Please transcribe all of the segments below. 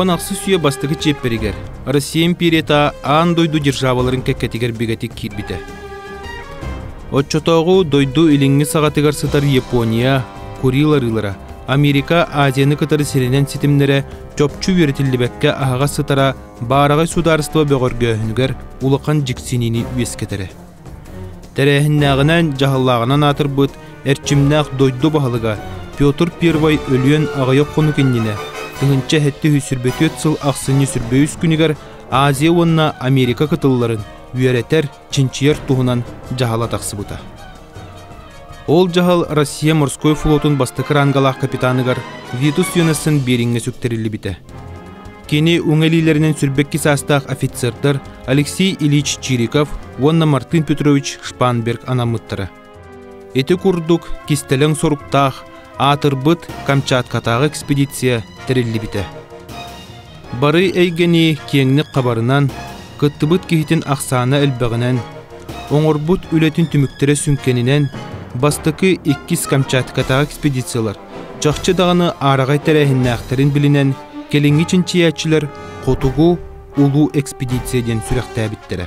уон ахсыс үйэ бастакы чиэппэригэр Россия империята аан дойду державаларын кэккэтигэр бигэтик киирбитэ. Оччотооҕу дойду илиҥҥи саҕатыгар сытар Япония, Курил арыылара Америка Азияны кытары сиринэн ситимнэрэ чопчу үөрэтиллибэккэ аһаҕас сытара баараҕай судаарыстыба бөҕөргөөһүнүгэр улахан дьиксиниини үөскэтэрэ. Тэрээһиннээҕинээн дьаһаллааҕынан аатырбыт эрчимнээх дойду баһылыга Петр I өлүөн аҕыйах хонук иннинэ тыһынча сэттэ үс сүүрбэ түөрт сыл ахсынньы сүрбэ үс күнүгэр Азия уонна Америка кытылларын үөрэтэр, чинчийэр туһунан дьаһала тахсыбыта. Ол дьаһал Россия морской флотун бастакы рангалаах капитаныгар Витус Йонассон Бериҥҥэ сүктэриллибитэ. Кини уҥэлиилэринэн сүрбэкки саастаах офицердар Алексей Ильич Чириков уонна Мартын Петрович Шпанберг анаммыттара. Ити курдук кистэлэҥ соруктаах аатырбыт Камчаткатааҕы экспедиция тэриллибитэ. Бары эйгэни киэҥник хабарынан, кыттыбыт киһитин ахсаана элбэҕинэн, оҥорбут үлэтин түмүктэрэ сүҥкэнинэн бастакы иккис Камчаткатааҕы экспедициялар чахчы даҕаны араҕай тэрээһиннээхтэрин билинэн кэлиҥҥи чинчийээччилэр Хотугу улуу экспедиция диэн сүрэхтээбиттэрэ.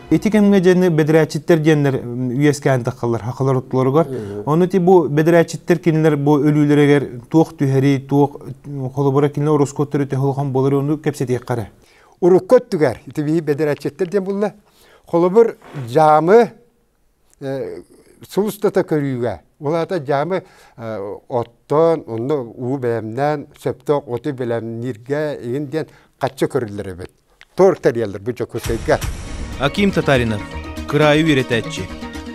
Ити кэмҥэ диэни бэдэрээччиттэр диэннэр үөскээн таххалар хахалар оттолоругар. Ону ти бу бэдэрээччиттэр кинилэр бу өлүүлэригэр туох түһэри, туох холобура кинилэр ороскуоттары техолохон болары ону кэпсэтиэххэрэ. Урукку өттүгэр итиби бэдэрээччиттэр диэн булла. Холобур, жамы сулустата көрүүгэ. Улаата жамы оттон, онно уу бэлэмнээн, сөптөөх оту бэлэмнииргэ, ин диэн хачча көрүллэр эбит. Торг тэрийэллэр бу Дьокуускайга. Аким Татаринов, кыраайы үөрэтээччи.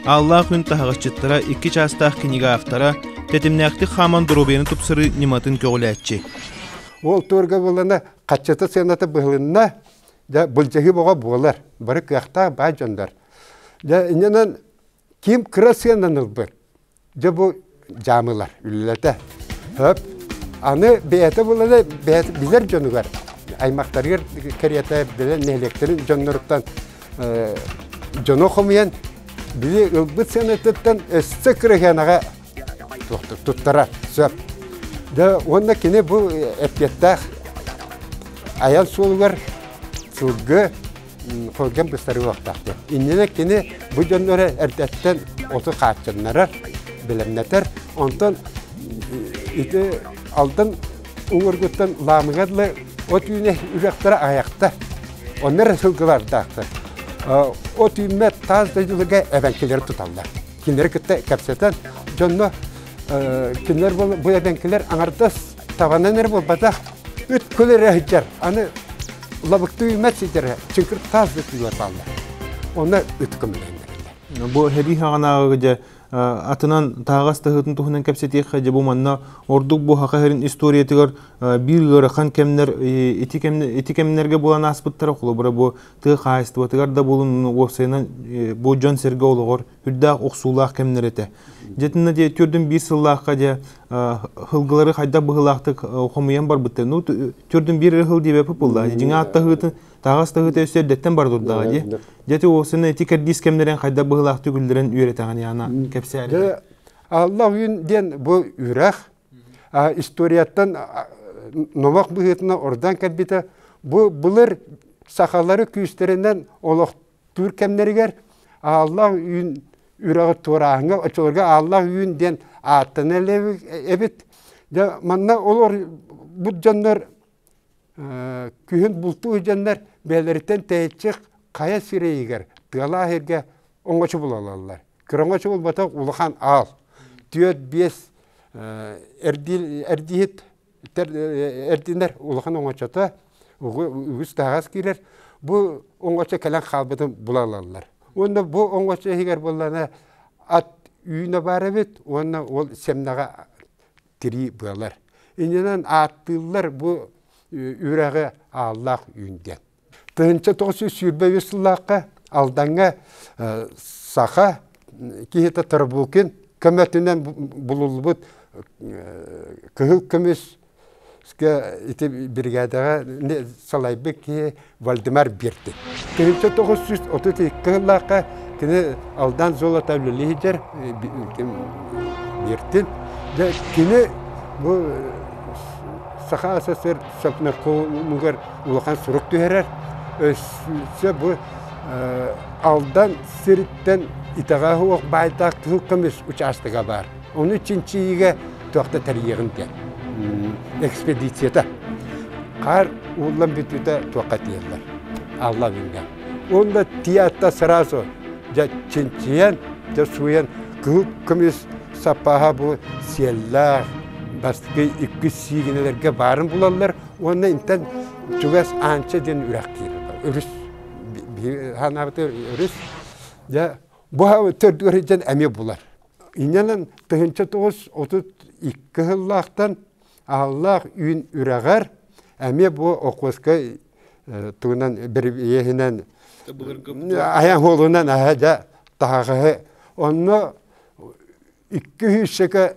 Ааллаах күн таһаҕасчыттара икки чаастаах кинигэ автора, тэтимнээхтик хааман доруобуйаны тупсарыы ньыматын көҕүлээччи. Ол туорга булана хаччата сыаната быһылынна, дьэ былдьаһыы боҕо буолар. Бары кыахтаах баар дьоннор. Дьэ иннинэн ким кыра сыанан ылбыт, Дьэ бу дьаамылар үлэлэтэ. Хөп. Аны бэйэтэ буланы бэйэтэ билэр дьонугар аймактарыгар кэриэтэ билэн нэһилиэктэрин дьонноруттан э, дьоно хомуйан били ылбыт сыанатыттан өссө кырыһыанаҕа туттара сөп. Да уонна кини бу эппиэттээх айан суолугар сылгы сылгын быстарыы уохтаах диэн. Иннинэ кини бу дьоннору эрдэттэн оту хааччыннарар, бэлэмнэтэр. Онтон ити Алдан уҥургуттан Лаамыга дылы от үүнэ үлэхтэрэ аҕыйахта. Оннор сылгылардаахтар. От үүммэт таас дойдуларга эбэҥкилери туталлар. Кинилэри кытта кэпсэтэн дьонно кинилэр бу эбэҥкилэр аҥардас Табанан эрэ буолбатах, үт кыл эрэ сылдьар. Аны лабыктыы үмэт сидэрэ, чыҥкыр таас бөтүлүөр баалла. Оны үт көмөлөннөрүллэр. Бу эбии хаҕанааҕыга дьэ атынан таһаҕас таһыытын туһунан кэпсэтиэххэ дьэ бу манна ордук бу хаха эрин историятыгар биир ыарахан кэмнэр ити кэмнэр ити кэмнэргэ булан ааспыттара холобура бу тыа хаһаайыстыбатыгар да булун уопсайынан бу дьон сэргэ олоҕор үрдээх охсуулаах кэмнэр этэ. Дьэтинна дии төрдүн биир сыллаахха дьэ хылгылары хайдах быһылаахтык хомуйан барбыттар. Ну төрдүн биир хыл диэбэп булла. Дьиҥаат таһыытын тагас таһыыта өссө эрдэттен бар турдаҕа дии. Дьэти уосына эти кэрдиис кэмнерен хайдах быһылаахтык үллэрэн үөрэтэҕин яана кэпсээрэ. Алла үйүн диэн бу үрэх историяттан номох быһыытына ордан кэлбитэ бу былыр сахалары күүстэринэн олох Туур кэмнэригэр ааллаах үүн үрэҕи туорааһыҥҥа оччолорго ааллаах үүн диэн ааттана эбит. Дьэ манна олор бут дьоннор күһүн бултуур дьоннор бэйэлэриттэн тэйиччи хайа сирэйигэр тыалаах сиргэ оҥочу булаллар. Кыра оҥочу булбатах улахан аал. Түөрт-биэс эрдииһит эрдинэр улахан оҥочото үгүс таһаҕас киирэр бу оҥочо кэлэн хаалбытын була ылаллар уонна бу оҥочо иһигэр буоллана ат үүнэ баар эбит уонна ол сэмнэҕэ тирии быалар иннинэн ааттыыллар бу үрэҕи ааллаах үүн диэн Тыһынча тоҕус сүүс сүүрбэ үс сыллаахха Алдаҥҥа саха киһитэ Тарбукин көмөтүнэн булуллубут кыһыл көмүскэ ити биригээдэҕэ салайбыт киһи Вальдемар Биртик. Тыһынча тоҕус сүүс отут икки кыһыллаахха кини Алдан золото үлэлиһидэр Биртин дьэ кини бу Саха СССР Совнаркомугар улахан сурук түһэрэр. Өссө бу Алдан сириттэн итэҕэһэ уох баайдаах кыһыл көмүс учаастага баар. Ону чинчийиигэ туох да тэрийиэҕим диэн экспедицията. Хаар ууллан бүтүүтэ туохха тиэллэр. Аллабинга. Онно тиятта сразу дьэ чинчийэн, дьэ сууйан кыһыл көмүс саппааһа бу сиэллээх бастакы иккис сиигинэлэргэ баарын булаллар. Уонна интэн чугас Аанча диэн үрэх киирэр. Өрүс санаабыта өрүс. Дьэ бу төрдү өрүтэн эми булар. Иннэнэн тыһынча тоҕус отут икки сыллаахтан ааллаах үүн үрэҕэр эми бу Окуоскай тугунан иэһинэн айан хуолунан аһа дьэ таһаҕаһы онно икки сүүсчэкэ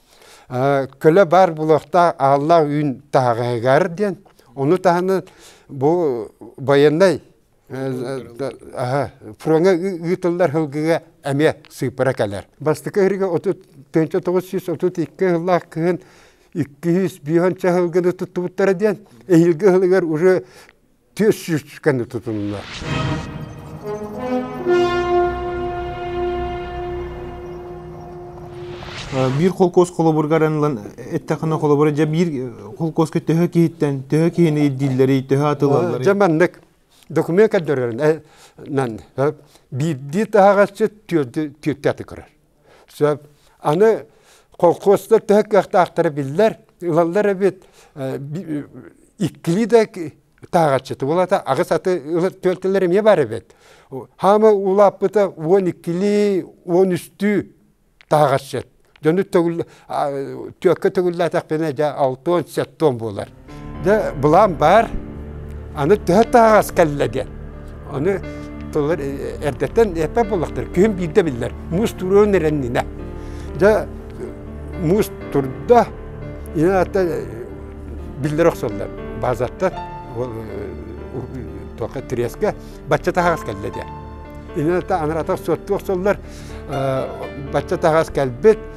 көлө баар булуохтаах ааллаах үүн таһаҕаһыгар диэн ону таһынан бу байыаннай фроҥа ыытыллар сылгыга эмиэ сыыпара кэлэр бастакы ыһырыга отут тыынча тоҕус сүүс отут икки сыллаах кыһын икки сүүс биһонча сылгыны туттубуттара диэн эһиилги сылыгар уже түөрт сүүс кэнни тутунна. Биир холкуос холобургар ылан эттэххинэ холобура дьэ биир холкуоска төһө киһиттэн төһө киһини ирдииллэрий төһө атылалларый? Дьэ маннык документ көрдөрөрүн биирдии таһаҕасчыт түөртү көрөр. Сөп. Аны колхозтар төһө кыахтаахтара биллэр, ылаллар эбит. Иккилии да тааҕаччыты булата аҕыс аты түөлтэлэр эмиэ бар эбит. Хаама улааппыта он иккилии, он үстүү тааҕаччыт. Дьону төгүл Түөккэ төгүллээтэхпинэ дьэ алтуон, сеттуон буолар. Дэ былаан баар, аны төһө таһаҕас кэллэ диэн. Ону тыллар эрдэттэн эппэ буоллахтар. Күһүн биирдэ биллэр. Муус туруон эрэннинэ. Дьэ муус турда, инаата биллэр охсоллор. Базаттан тоқа триэскэ бачча таһаҕас кэллэ диэн. Ината анарата сотту охсоллор бачча таһаҕас кэлбит,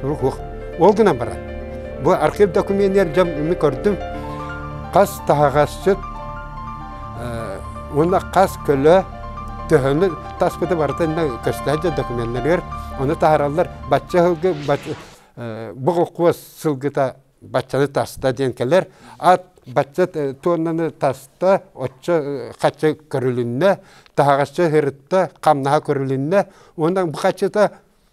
Сурук уох. Ол гынан баран, бу архив документер дьон үмү көрдүм. Хас таһаҕасчыт уонна хас көлө төһөнү таспыты барытын көстөөчө документларыгар оны таһараллар бачча сылгы бу сылгыта баччаны таста диэн кэлэр ат бачча туоннаны таста оччо хачча көрүлүннэ таһаҕасча хырытта хамнаха көрүлүннэ уонна бу хаччыта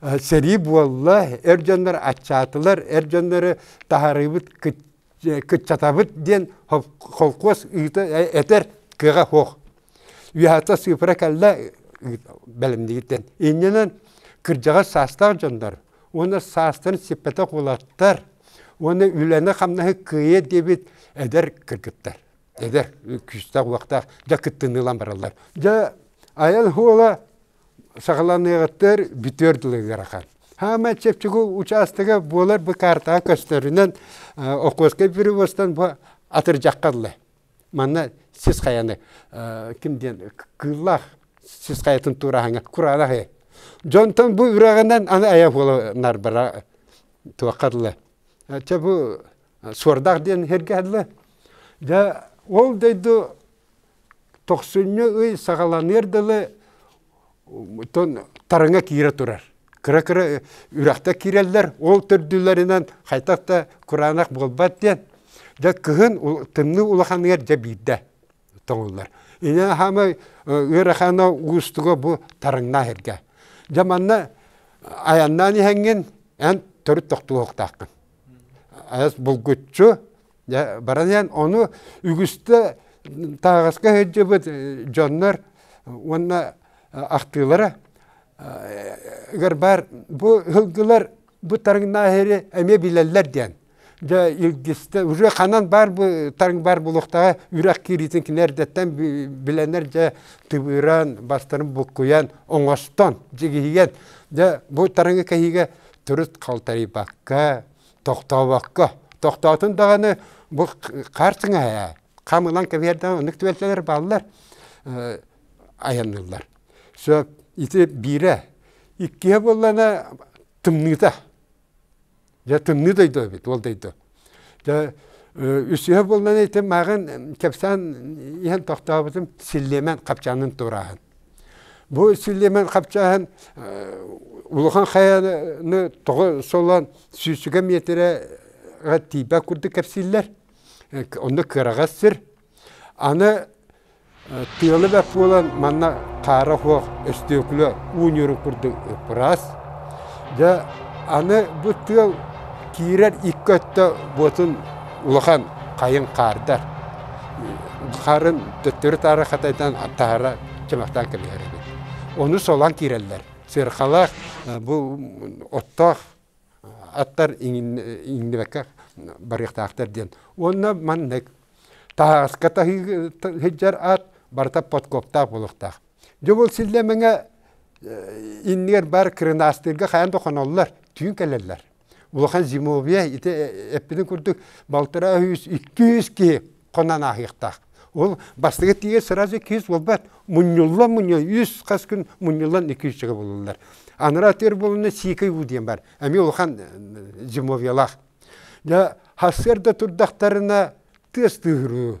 Сэрии буолла, эр дьоннор аччаатылар, эр дьоннору таһарыыбыт, кыччатабыт диэн холкуос ыыта этэр кыаҕа суох. Үөһата сыыпара кэллэ бэлэмнигитен. Иннинэн кырдьаҕас саастаах дьоннор уонна саастарын сиппэтэх улаттар уонна үлэни-хамнаһы кыайыа диэбит эдэр кыргыттар, эдэр күүстээх-уохтаах дьэ кыттыныылан бараллар. Дьэ, айан суола саҕаланыаҕыттар бүтүөр дылыгырахан. Хаама чепчугу учаастага буолар бу картаҕа көстөрүнэн окуоскай перевозтан бу атырдьаххаллы. Манна сис хайаны ким диэн кыыллаах сис хайатын туораһаҥа кураанах э. Дьонтон бу үрэҕинэн аны айа буола нарбара туоххаллы. Чэ бу суордаах диэн хергэһэллы. Дьэ ол дойду Тохсунньу ый саҕаланыар дылы тараҥа киирэ турар. Кыра-кыра үрэхтэр киирэллэр, ол төрдүлэринэн хайдах да кураанах буолбат диэн. Дьэ кыһын тымныы улаханыгар дьэ биирдэ тоҥуллар. Ини хаамай ыарахана уустуга бу тараҥнаах эргэ. Дьэ манна айаннаан иһэҥҥин эн төрүт тохтуһуохтааххын. Айас булгуччу Дьэ, баран ону үгүстэ тааҕаска сылдьыбыт дьоннор уонна ахтыылара ыгар баар бу һылгылар бу тарыҥнааһыары эмиэ билэллэр диэн. Дьэ, илгистэ уже ханан баар бу тарыҥ баар булуохтаҕа үрэх киириитин кини эрдэттэн билэнэр дьэ тыбыыран бастарын буккуйан оҥостон дьигиһийэн дьэ бу тарыҥы кэһиигэ турут халтарыйбакка тохтообокко, тохтоотун даҕаны бу харчыҥа ээ, хам ылан кэбиэрдэҕэ оннук түөлсэлэр бааллар айанныыллар. Сөп, ити биирэ. Иккиһэ буоллана тымныыта. Дьэ тымныы дойду эбит, ол дойду. Дьэ үсүһэ буоллана ити мааҕын кэпсээн иһэн тохтообутум силлиэмэн хапчаанын турааһын. Бу сүлемен хапчаһын улухан хайаны тоҕо солон сүүсүгэ метрэ тиипэ курдук кэпсиллер. Онно кыраҕас сир. Аны тыалы бэрт буолан манна хаара суох өстөкүлэ уу ньуру курдук ыппыраас. Дьэ, аны бу тыал киирэр икки өттө буотун улахан хайыҥ хаардар харын төттөрү-таары хатайдан таһара чымахтаан кэбиһэр эбит. Ону солоон киирэллэр. Сыарҕалаах бу оттоох аттар иҥнибэккэ барыахтаахтар диэн. Уонна маннык таһаҕаска таһыы сылдьар аат барыта подкоптаах буолуохтаах. Дьэ ол силлэмэҥэ иннигэр баар кырынаастыырга хайаан да хоноллор, түүн кэлэллэр. Улахан зимовье ити эппитин курдук балтараа үс, икки үс киһи хонон ааһыахтаах. Ол бастыгы тиийэ сразу икки үс буолбат, мунньуллан мунньуа үс хас күн мунньуллан икки үсчүгэ булуллар. Анараа атыыр буолуна сиикэй уу диэн бар, эмиэ улахан зимовьелаах. Дьэ, хассыар да турдахтарына тыас тыыһырыы,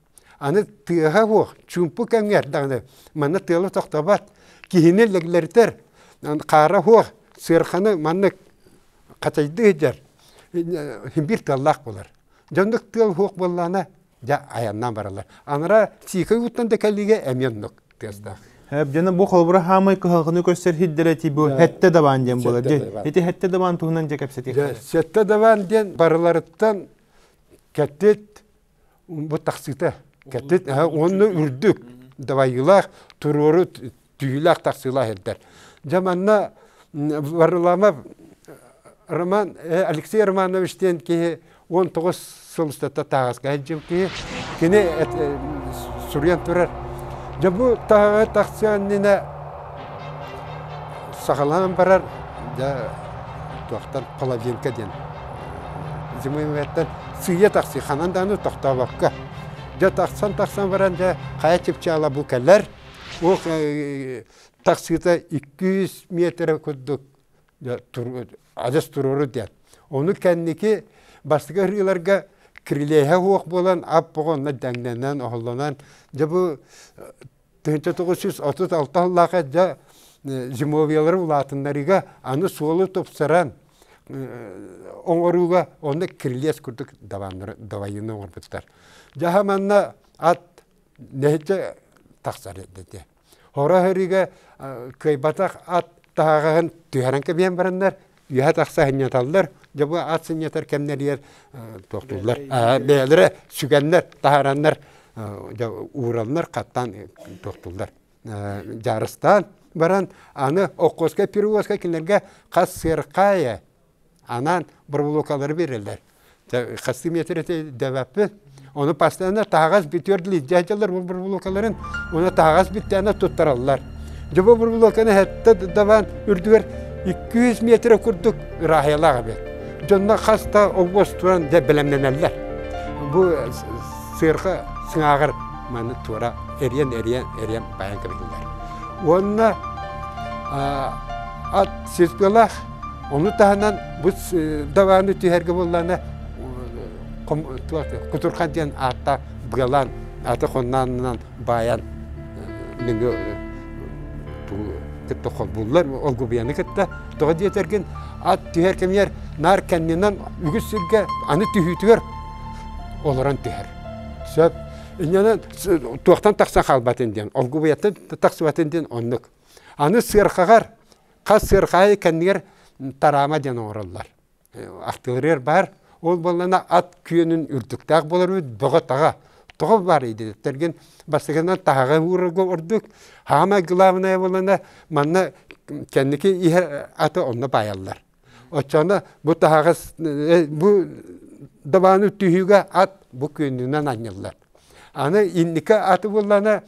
Аны тыаһа суох, чуумпу кэмҥэ эрдэҕинэ манна тыала тохтобот, киһини лэглэритэр, хаара суох, сыарханы маннык хачайдыы сылдьар биир тыаллаах буолар. Дьэ оннук тыал суох буоллаҕына дьэ айаннаан бараллар. Анараа сиикэй ууттан да кэлиигэ эмиэ оннук тыастаах. Дьэ бу холобура хаамай кыһалҕаны көрсөр сирдэрэ тиий бу сэттэ дабаан диэн буолар. Ити сэттэ дабаан туһунан дьэ кэпсэтиэххэ. Сэттэ дабаан диэн барыларыттан кэттит, бу тахсыыта кэтит уонна үрдүк давайыылаах туруору түйүүлээх тахсыылаах ирдэр дьэ манна варламов роман алексей романович диэн киһи он тоҕус сыл устата тааҕаска дьыл киһи кини суруйан турар дьэ бу таһаҕа тахсы аннина Саҕалаан барар да туохтан половинка диэн зимовьеттан сыыйа тахсыы ханан даҕаны тохтообокко дьэ тахсан тахсан баран дьэ хайа чыпчаала бу кэлэр ол таксита иккис миэтэрэ курдук адьас туруору диэн ону кэнники бастакы ырыаларга крыльяһа суох буолан ап оҕоннор дэҥнэнэн оһоллонон дьэ бу тыһыта тоҕус сүүс отут алта сыллаах эрдэ зимовиялары улаатыннарыыга аны суолу тупсаран оҥорууга онно кирилиэс курдук давайыны оҥорбуттар дьаһа манна ат нэһиччэ тахсар этэ хоро ыһыырыыга кыайбатах ат таһаҕаһын түһэрэн кэбиһэн бараннар үөһэ тахса сынньаталлар дьэ бу ат сынньатар кэмнэригэр тохтууллар бэйэлэрэ сүгэннэр таһараннар ууралынар хаттаан тохтууллар дьаарыстаан баран аны оккуоска перевозка кинилэргэ хас сырхаайа анаан быраблокалары береллэр Хастым етрети дэбэппин. Ону постоянно таһаҕас бүтүөр лиддяй дьалар бу бурбулукаларын уна таһаҕас бүттээнэ туттараллар. Дьэ бу бурбулуканы хэтта дабан үрдүгэр 200 метрэ курдук ыраахыялаах эбит. Дьонно хаста обоз туран дэ бэлэмнэнэллэр. Бу сыырха сыңааҕар маны туора эриэн эриэн эриэн байан кэбиһиллэр. Уонна ат силпылах Ону таһынан бу даваны түһэргэ буоллаана Кутурхан диэн аатта Бгалан аты хоннаанынан баайан нөҥө кытта холбууллар олгубияны кытта тоҕо диэтэргин ат түһэр кэмигэр наар кэннинэн үгүс сиргэ аны түһүүтүгэр олорон түһэр сөп иннинэн туохтан тахсан хаалбатын диэн олгубуйаттан тахсыбатын диэн оннук аны сыарқаҕар Хас сыархаайы кэннигэр тараама диэн оҥороллор. Артиллериер баар, ол буоллана ат күөнүн үрдүктээх болор үүт бөҕө-таҕа. Тоҕо баар идиттэрген бастыгынан таһаҕа уурарга ордук, хаамай главная буоллана манна кэнники иһэ аты онно баайаллар. Оччоно бу таһаҕас, бу дабааны түһүүгэ ат бу күөнүнэн анньыллар. Аны инники аты буллана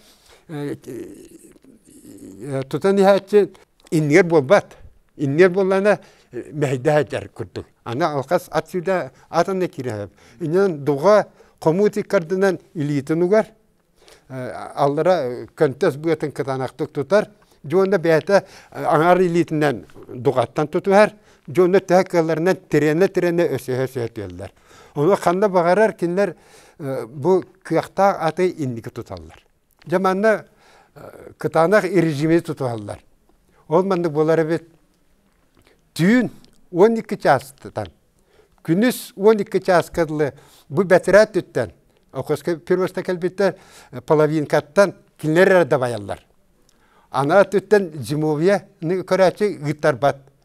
тутан иһээччи иннигэр буолбат. Иннигэр буоллана мэһэйдэһэтэр курдук. Аны алхас ат сюда атына киирэ. Инэн дуга хомут иккардынан илиитин угар аллара көнтөс быатын кытанахтык тутар. Дьонно бэйэтэ аҥар илиитинэн дугаттан тутуһар. Дьонно төһө кыалларынан тирэнэ-тирэнэ өсөһө-өсөһө түөллэр. Ону ханна баҕарар кинилэр бу кыахтаах аты инники туталлар. Дьэ манна кытаанах режими тутуһаллар. Ол маннык буолар эбит. Түүн 12 чаастан, күнүс 12 чааска дылы бу бэтэрээ өттүттэн, Окоска первоста кэлбиттэр половинкаттан кинилэр эрэ дабайаллар. Анаа өттүттэн зимовьяны көрөөччү ыыттарбат.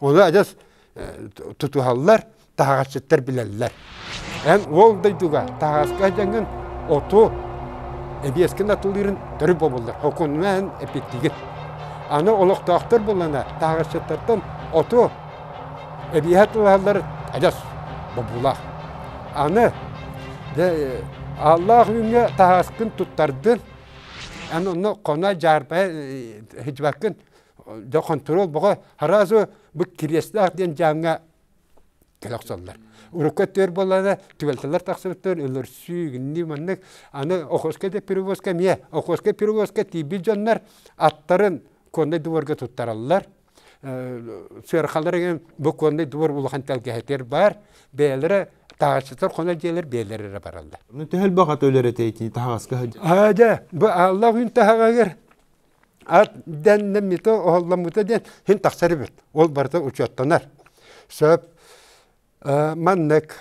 Оны адьас тутуһаллар, таһаҕасчыттар билэллэр. Эн ол дойдуга таһаҕаска дьаҥын оту эбиэскин атылыырын төрүт бобуллар. Окунна эн эпиттигит. Аны олохтоохтор булана таһаҕасчыттартан оту эбиэһэ тулаһаллар адьас бобуулаах. Аны дьэ ааллаах үүҥҥэ таһаҕаскын туттардын, эн онно хоно дьаарбайа сыдьыбаккын да хонтуруол бөҕө разу бу кириэстээх диэн дьааҥҥа кэлэ охсоллор урукку өттүгэр буоллаҕына түбэлтэлэр тахсыбыттар өлөрсүү гиннии маннык аны охоска да перевозка эмиэ охоска перевозка тиийбит дьоннор аттарын конный дворга туттараллар сыархалар бу конный двор улахан тэлгэһэтэр баар бэйэлэрэ таачытар хоно дьиэлэр бэйэлэрэ бараллар төһөл баҕата өлөрөтө итини таһаҕаска дьэ бу аалла күн таһаҕагар дэннэммитэ оһолломмута диэн син тахсар эбит ол барыта учуоттанар сөп маннык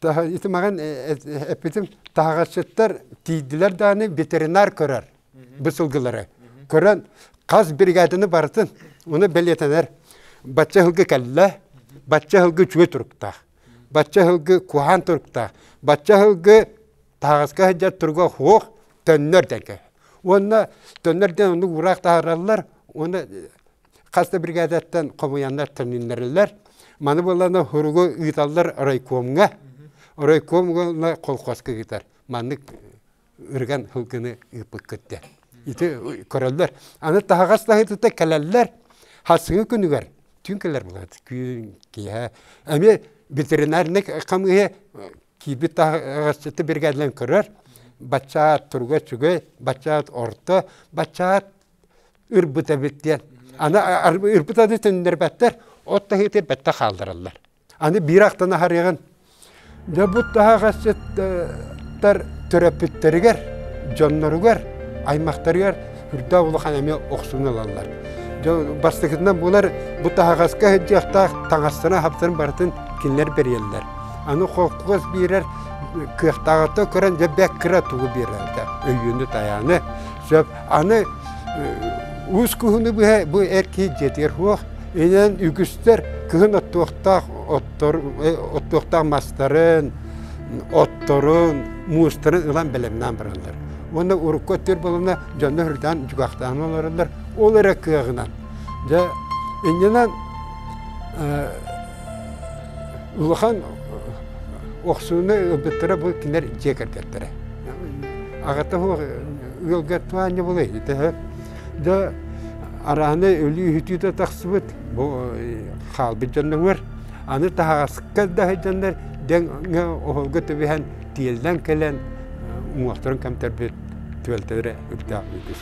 ити маған эппитим таһаҕасчыттар тиийдилэр дааны ветеринар көрөр бысылгылары көрөн хас бригаданы барытын оны бэлиэтэнэр бачча сылгы кэллэ бачча сылгы үчүгэй туруктаах Бачча ыһылгы куһаан туруктаах. Бачча ыһылгы таһаҕаска сылдьар туруга хуох төннөр дэнке. Уонна төннөр дэн оннук ураах таһараллар, уонна хас да бригадаттан хомуйаннар төнүннэрилэр. Маны болана хуругу ыыталлар райкомга. Райком уонна колхозка ыытар. Маннык ырыган һылгыны ыыппыккыт диэн. Ити көрөллөр. Аны таһаҕас таһы тута кэлэллэр. Хасыгы күнүгэр түүн кэлэр буолат. Күн киэһэ эмиэ ветеринарный хамыыһа киирбит таһаҕасчыты биргээллэн көрөр. Баччаат туруга үчүгэй, баччаат орто, баччаат ырбыта эбит диэн. Аны ырбыта да төннөрбөттөр, от таһыытыр бэттэ хаалдыраллар. Аны биир ахтан аһарыаҕын. Нөбут таһаҕасыттар төрөппүттэригэр, дьонноругар, аймахтарыгар үрдээх улахан эмиэ охсуну ылаллар. Бастакытынан булар бу таһаҕаска сылдьыахтаах таҥастарын-аһаптарын барытын кинилэр бэрийэллэр. Аны холкуос биэрэр кыахтааҕыта көрөн дьэ бэк кыра тугу биэрэрдэ өйүөнү-тайааны сөп аны уус куһуну быһа бу эр киһи дьиэтигэр суох Инэн үгүстэр кыһын оттуохтаах оттор, э, оттуохтаах мастарын, отторун, муустарын ылан бэлэмнээн бараллар. Уонна урукку өттөр болуна дьонно хөргүтээн дьугахтаан олороллор. Ол эрэ кыаҕынан. Дьэ, иннинэн э, улахан охсууну ылбыттара бу кинилэр дьиэ кэргэттэрэ. Аҕата ыалга туһаанньа булай, да араанай өлүү-үһүтүүтэ тахсыбыт бу хаалбыт дьонноҥор аны таһаҕаска да сылдьаннар дэҥҥэ оһолго түбэһэн тиэллэн кэлэн уҥуохтарын кэмтэрбит түөлтэлэрэ үрдээх үгүс